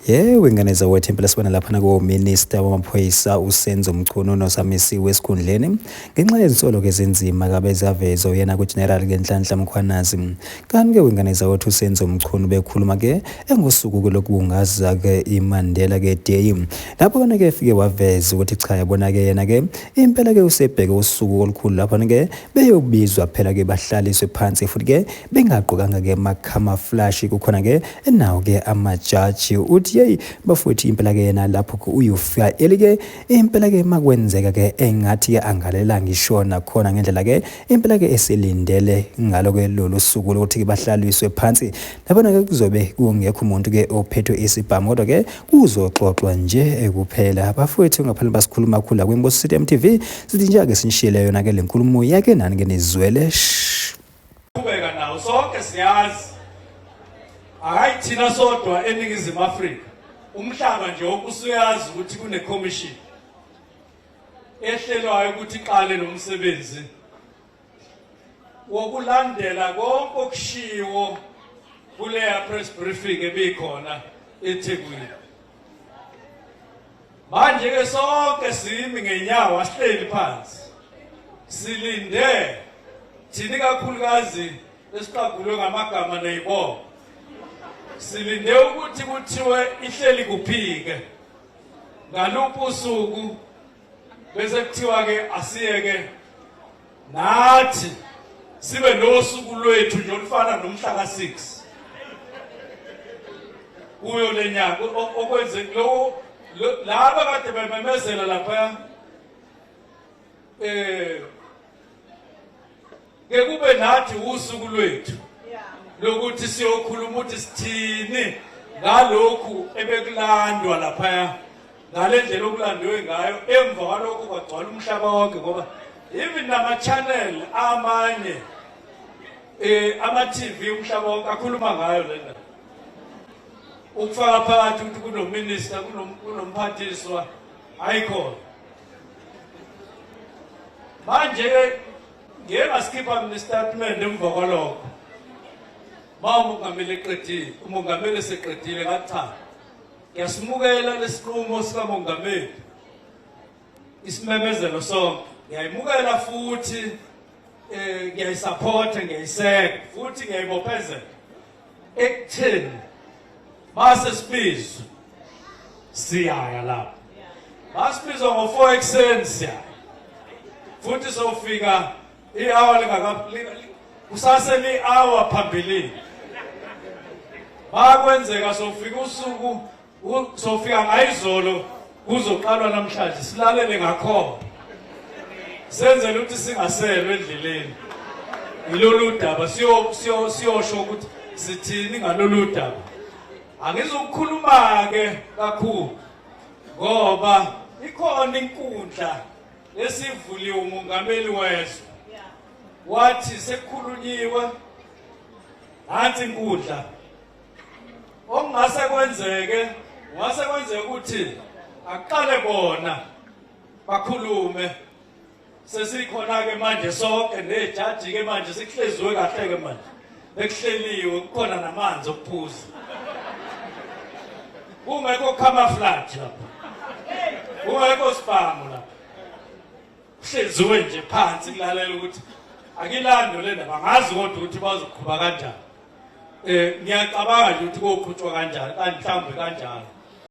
Yebo ingane zawethu impela sibona lapha nakominister wamaphoyisa uSenzo Mchunu nosamisiwe esikhundleni ngenxa yezinsolo-ke ezinzima kabe zavezwa uyena kuGeneral Ngenhlanhla Mkhwanazi. Kanti-ke wengane zawethu uSenzo Mchunu bekhuluma-ke engosuku-ke lokubungaza-ke iMandela-ke Day. Lapho kona-ke efike waveza ukuthi cha yabona-ke yena-ke impela-ke usebheke usuku olukhulu lapho-ke Beyobizwa phela ke bahlaliswe phansi futhi ke bengagqokanga ke macamouflage kukhona ke nawo ke amajaji uthi hey bafowethu impela ke yena lapho ke uyofika elike impela ke makwenzeka ke engathi ke angalela ngisho nakhona ngendlela ke impela ke esilindele ngalo ke lolu suku lokuthi ke bahlaliswe phansi labona ke kuzobe kungekho umuntu ke ophethwe isibhamu kodwa ke Kuzoxoxwa nje kuphela. Abafowethu ngaphana basikhuluma kakhulu la kwiNkosi City MTV. Sithi nje ake sinishiyele yona ke lenkulumo yake nani ke nizwele. Qhubeka nawo sonke siyazi. Hayi thina sodwa eningizimu Afrika. Umhlaba nje okusuyazi ukuthi kune commission ehlelwayo ukuthi iqale nomsebenzi wokulandela konke okushiwo kuleya press briefing ebikhona eThekwini manje ke sonke simi ngenyawo asihleli phansi silinde thini kakhulukazi esiqagulwe ngamagama neyibongo silinde ukuthi kuthiwe ihleli kuphike ngaluphi usuku bese kuthiwa ke asiyeke nathi sibe nosuku lwethu nje olufana nomhla ka6 kuyo lenyanga okwenze lokho laba kade bememezela lapha eh kekube nathi usuku lwethu lokuthi siyokhuluma ukuthi sithini ngalokhu ebekulandwa laphaya ngale ndlela okulandiwe ngayo emva kwalokho kwagcwala umhlaba wonke ngoba even nama-channel amanye um ama-tv umhlaba wonke akhuluma ngayo le ndaba ukufaka phakathi ukuthi kunominista kunomphathiswa ayikhona manje-ke ngiye ngasikhipha mina isitatimende emva kwalokho ma umongameli eqedile umongameli eseqedile ngathi cha ngiyasimukela lesinqumo sikamongameli isimemezelo sonke ngiyayimukela futhi um ngiyayisaphotha ngiyayiseka futhi ngiyayibophezela ekutheni base sibizwe siyaya lapho basibizwa ngo-four ekuseni siyaya futhi sofika i-hour kusase li-hour phambilini bakwenzeka sofika usuku Sofika ngayizolo kuzoqalwa namhlanje silalele ngakhona. Senzele ukuthi singaselwe endleleni. Yilolu daba siyo siyo siyosho ukuthi sithini ngalolu daba. Angizokukhuluma ke kakhulu ngoba ikhona inkundla esivuliwe umongameli wezwe wathi sekukhulunyiwe nansi inkundla okungase kwenzeke ngase kwenzeka ukuthi aqale bona bakhulume sesikhona ke manje sonke nejaji ke manje sikuhleziwe kahle ke manje bekuhleliwe kukhona namanzi okuphuza kungekho camouflage lapha kungekho sibhamu lapha kuhleziwe nje phansi kulalela ukuthi akilando le ndaba ngazi kodwa ukuthi bazoqhuba kanjani eh ngiyacabanga ukuthi koqhutshwa kanjani kanti mhlawumbe kanjalo